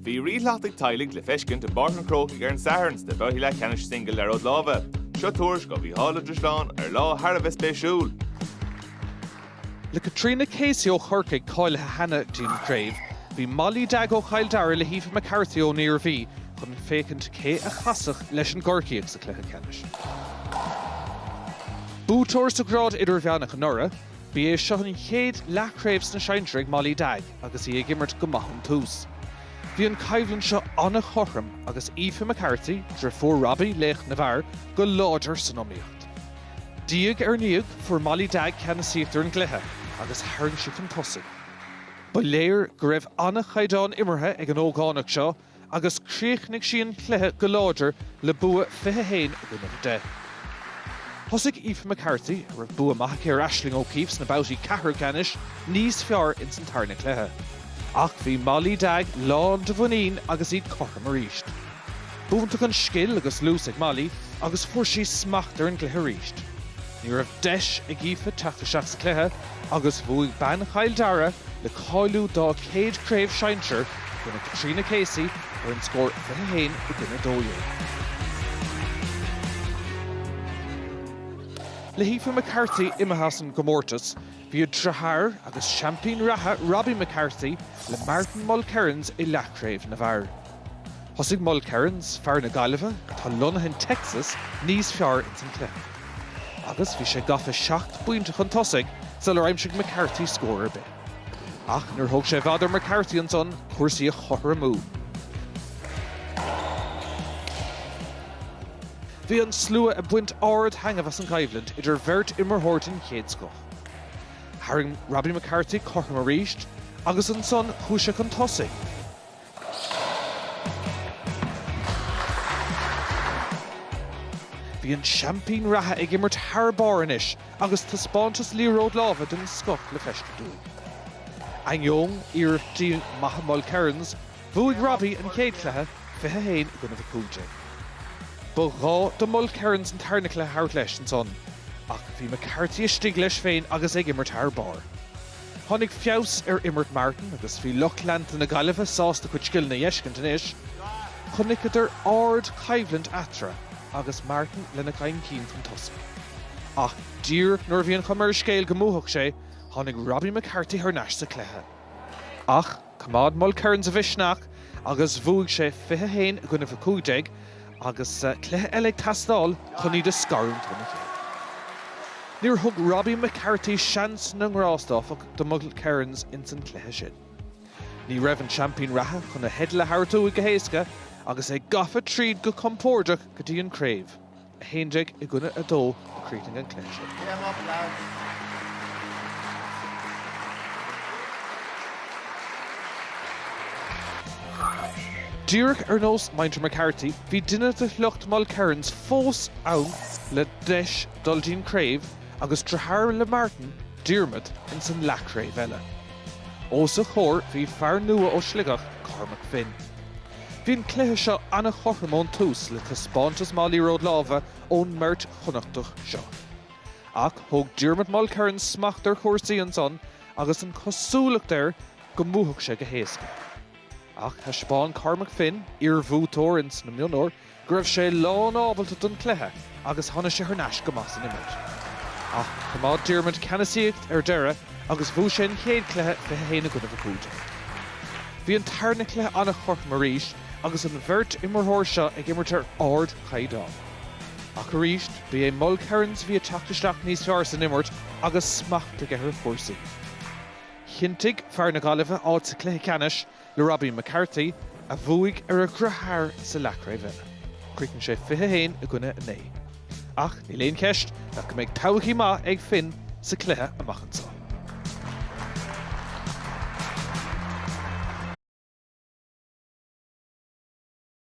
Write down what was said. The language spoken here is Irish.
Bhí ríshleachta teaghlaigh le feiscint i bPáirc an Chrócaigh ar an Satharn sna babhtaí leath ceannais singil liathróid láimhe. Seo tuairisc ó Mhícheál Ó Drisleáin ar lá thar a bheith spéisiúil. Le Caitríona Casey ó Chorcaigh cáilithe cheana dtí'n gcraobh, bhí Molly Dagg ó Chill Dara le hAoife McCarthy ón Iarmhí chun féachaint cé a chasfadh leis an gCorcaíoch sa chluiche ceannais. Buaiteoir sa ghrád idirmheánach anuraidh, Ba é seo an chéad leathchraobh sna sinsir ag Molly Dagg agus í ag imirt go maith ón tús. Bhí an choimhlint seo an-chothrom agus Aoife McCarthy, driofúr Robbie, laoch na bhfear, go láidir san iomaíocht. Diaidh ar ndiaidh, fuair Molly Dagg ceannasaíocht ar an gcluiche agus tharraing sí chun tosaigh. Ba léir go raibh an-chaighdeán imeartha ag an ógánach seo, agus chríochnaigh sí an cluiche go láidir le bua 21 i gcoinnibh 10. Thosaigh Aoife McCarthy, a raibh bua maith aici ar Aisling O'Keeffe sna babhtaí ceathrú ceannais, níos fearr ins an tarna cluiche. Ach bhí Molly Dagg lán de mhuinín agus iad cothrom arís. B'iontach an scil agus luas ag Molly agus fuair sí smacht ar an gcluiche arís. Ní raibh deis ag Aoife teacht isteach sa chluiche, agus bhuaigh bean Chill Dara le cáiliú dá céad craobh sinsir i gcoinne Caitríona Casey ar an scór 21 i gcoinne 12. Le hAoife McCarthy imithe as an gcomórtas, bhí a driotháir agus seaimpín reatha Robbie McCarthy le Martin Mulkerrins i leathchraobh na bhfear. Thosaigh Mulkerrins, fear na Gaillimhe atá lonnaithe in Texas, níos fearr ins an cluiche agus bhí sé gafa seacht bpointe chun tosaigh sular aimsigh McCarthy scór ar bith. Ach níor thóg sé i bhfad ar McCarthy ansan cúrsaí a chothromú. Bhí an slua ag baint ard-thaitneamh as an gcoimhlint idir bheirt imreoir den chéad scoth. Tharraing Robbie McCarthy cothrom arís agus ansan chuaigh sé chun tosaigh. Bhí an seaimpín reatha ag imirt thar barr anois agus taispeántas liathróid láimhe den scoth le feiscint uaidh. Ainneoin iarrachtaí maithe Mulkerrins, bhuaigh Robbie an chéad chluiche, 21 i gcoinnibh 15. Ba ghá do Mulkerrins an tarna cluiche a thabhairt leis ansan ach bhí McCarthy istigh leis féin agus ag imirt thar barr. Tháinig feabhas ar imirt Martin agus bhí lucht leanta na Gaillimhe sásta a chuid scileanna a fheiscint anois. Chonaiceadar ardchoimhlint eatarthu agus Martin lena gcaint cinn chun tosaigh. Ach díreach nuair a bhí an chuma ar an scéal go mbuafadh sé, tháinig Robbie McCarthy thar n-ais sa chluiche ach, Choimeád Mulkerrins a mhisneach agus bhuaigh sé 21 i gcoinnibh 15 agus sa cluiche eile ag teastáil chun iad a scarúint óna chéile. Níor thug Robbie McCarthy seans na ngrást, áfach, do Mulkerrins ins an chluiche sin. Ní raibh an seaimpín reatha chun a theideal a thabhairt uaidh go héasca agus é gafa tríd go compóirdeach go dtí an craobh. 11 i gcoinne 2, a chríochnaigh an cluiche sin. Díreach ar nós muintir McCarthy, bhí duine de shliocht Mulkerrins fós ann le deis dul dtí'n craobh agus deartháir le Martin, Diarmuid, ins an leathchraobh eile. Os a chomhair bhí fear nua ó Sligeach, Cormac Finn. Bhí an cluiche seo an-chothrom ón tús le taispeántas maith liathróid láimhe ón mbeirt Chonnachtach seo. Ach thóg Diarmuid Mulkerrins smacht ar chúrsaí ansan agus an chosúlacht air go mbuafadh sé go héasca. Ach thaispeáin Cormac Finn, iarbhuaiteoir ins na mionúir, go raibh sé lánábalta don chluiche agus tháinig sé thar n-ais go maith san imirt. Ach choimeád Diarmuid ceannasaíocht ar deireadh agus bhuaigh sé an chéad chluiche 21 i gcoinnibh 15. Bhí an tarna cluiche an-chothrom arís agus an bheirt imirtheoir seo ag imirt ar ardchaighdeán. Ach arís, b'é Mulkerrins a bhí ag teacht isteach níos fearr san imirt agus smacht aige ar chúrsaí. Chinntigh fear na Gaillimhe áit sa chluiche ceannais, le Robbie McCarthy, a bhuaigh ar a dheartháir sa leathchraobh eile. Críochnaigh sé 21 i gcoinne 9. Ach níl aon cheist nach go mbeidh todhchaí maith ag Finn sa cluiche amach anseo.